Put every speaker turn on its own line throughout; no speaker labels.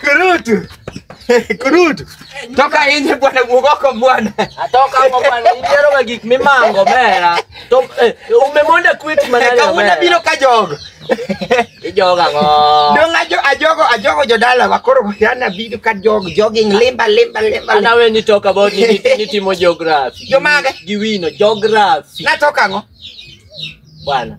Kurutu. Kurutu. Toka nje bwana mugoko bwana. Atoka hapo bwana,
idiero ga gik mimango mera. To eh, umemonda quit manani. Kawuono biro ka jogo.
Ijoga
ngo. Dong ajo ajogo
ajogo jodala wakoro yana biro ka jogo jogging limba limba limba. Ana we ni
talk about ni ni- ni timo geography. Jomage? Giwino
geography.
Natoka ngo.
Bwana.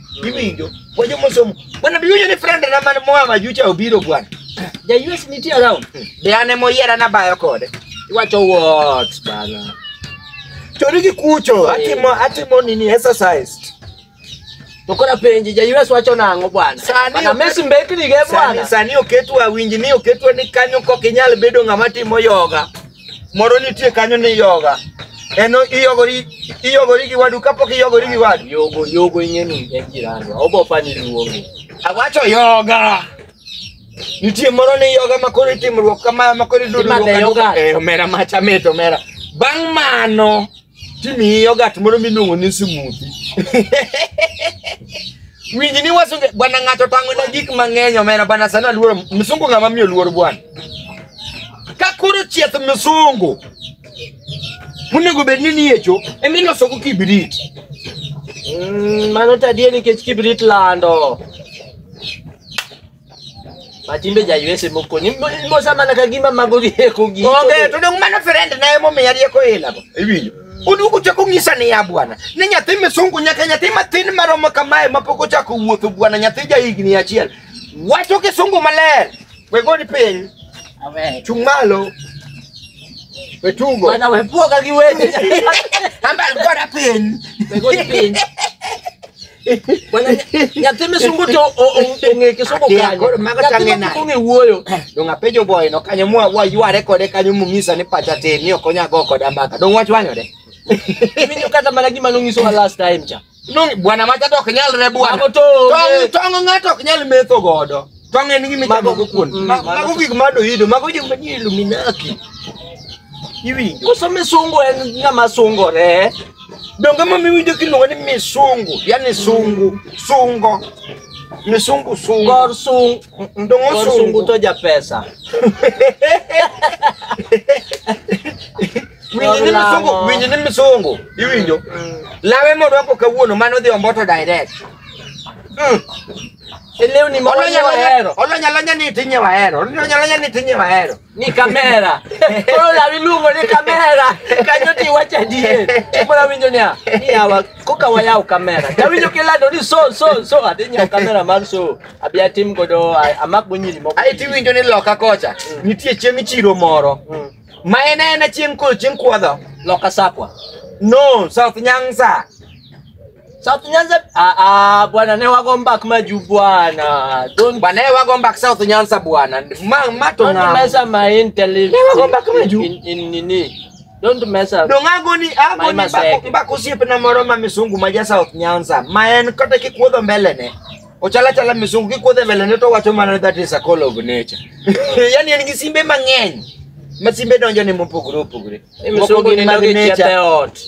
Iwinjo? Wajo mosomo. Bwana biwinjo ni friend na man moa majucha obiro bwana. Ja US nitie
around. Be an ema oyiera
nabayo kode. Iwacho what
bana. Chori
gi kucho, atimo atimo nini exercise. To
kora penji ja US wacho nang'o bwana? Sani Bana ok- Messi mbekni ge Sani bwana. sani oketwa
winji ni oketwa ni kanyo kok inyal bedo ng'ama timo yoga. moro nitie kanyo ni yoga en iyogori iyogori gi wadu kapok iyogori gi wadu Yogo, yogo ing'eni
en jirani. Obo pani luongi. awacho
yoga nitie moro ni yoga makoro itimruok kama makoro iduduruok Imadhe yoga. eh omera macha mit omera bang' mano timiyi yogat moro miluongo ni smoothi winj ni wasunge bwana ng'ato tang'ona gik mang'eny omena bwana sani aluoro msungu ng'ama miyo luor bwana ka koro chieth msungu monego bed ni niyecho emilosogo kibrit Mm, mano
tadie nikech kibrit lando Matimbe ja US moko ni mosa mana ka gima mago gi eko gi. Onge to dong mano friend
na emo miya rieko ila bo. Iwinjo? Oduogo chako ng'isa ni ya bwana. Ni nyathi misungu nyaka nyathi matin maromo kamae mapok ochako wuotho bwana nyathi ja higni achiel. Wacho kisungu maler. We goni piny. Amen. Chung'
malo.
We tugo. Bana we poka
gi weche. Ambal
gora piny. We goni piny.
Bwana, nya- nyathi misungu to o- o- ong'e kisungu Akia, kanyo. koro mago Nyathi chang'e ma nade? ong'e
wuoyo.
Dong apenjo boy
no kanyo mwa wayware kode kanyo mung'isa ni pacha tin ni ok onya go koda mbaka. Dong wach wanyode. Iwinjo
kata mana gima nonyisowa last time cha. Nung bwana macha
to ok nyalre bwana. Mago to onge. Tong' tong' ng'ato ok nyal metho godo. To ang'e ni gima Mago- ichamogo kuon. mm, Ma- mago Mago to- gik ma doido, mago gik ma nie Illuminati. Iwinjo? Koso misungu
en ng'ama sungore. Donge ma
miwinjo kiluongo ni misungu, yani sungu, sungo. Misungu sungo. Kor sung
Ndongo kor sungu. sungu
to ja
pesa.
Winjo ni Lamo. misungu, winjo ni misungu. Iwinjo? Lawe morwako kawuono mano dhi omboto direct.
E lewni ma Olony alony wahero. olony alony ni itinye
wahero. Olony alony ni itinye wahero. Ni kamera.
Koro lawi iluongo ni kamera. Kanyo ti iwacho adier. Koro awinjo niya, ni yawa koka wayaw kamera. To awinjo kilando ni so so so adhi nyiewo kamera mar so. Abi atim godo a- amak go nyiri moko. Ae tiwinjo ni loka
kocha. Nitie chieng' chiro moro. Mm. Ma en en chieng' ko chieng' kwadho. Loka sakwa.
No, South
Nyanza.
Sasa tunyanza ah ah bwana ne wago mbak maju bwana. Don't Bwana yeye wago mbak South
Nyanza bwana. Ma mato don't na. mess up my
intellect. Ne wago mbak maju.
In in nini?
Don't mess up. Dongago ni ago Mai ni
maseke. mbak mbak osiep na moro ma misungu ma ja South Nyanza. Ma en kata kikuodho mbele ne. Ochala chala misungu kikuodho mbele ne to wacho mana that is a call of nature. Yaani en gi simbe mang'eny. Ma simbe donjo ne mopogore opogore. Moko Msungu gin ni mag
nogi nature. chete ot.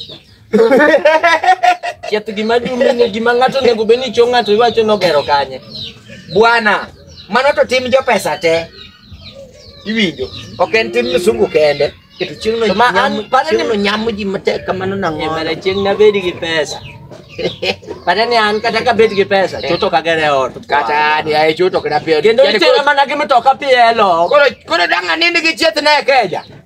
Chieth gima dume ni gima ng'ato onego bed ni cho ng'ato iwacho nogero kanye. Bwana,
mano to tim jo pesa te. Iwinjo? Ok en tim msungu kende. Keto chieng'no To ma an- nyamo- pane ni- chieng'no
nyamo ji
matek kamano nang'o? Emara chieng' nabed gi
pesa. Kata ni an kata ka bed gi pesa, chuto ka gere ot. Kata ni ae chuto
kena pia. Kendo Yaani itero koro- mana gi
mtoka pielo. Koro koro dang'
anindi gi chieth ne keja.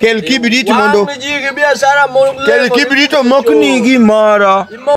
Kel kibrit
mondo Wang'
ji gi
biashara
mo-
kel lemo-
kibrit omokni gimoro.
Imo-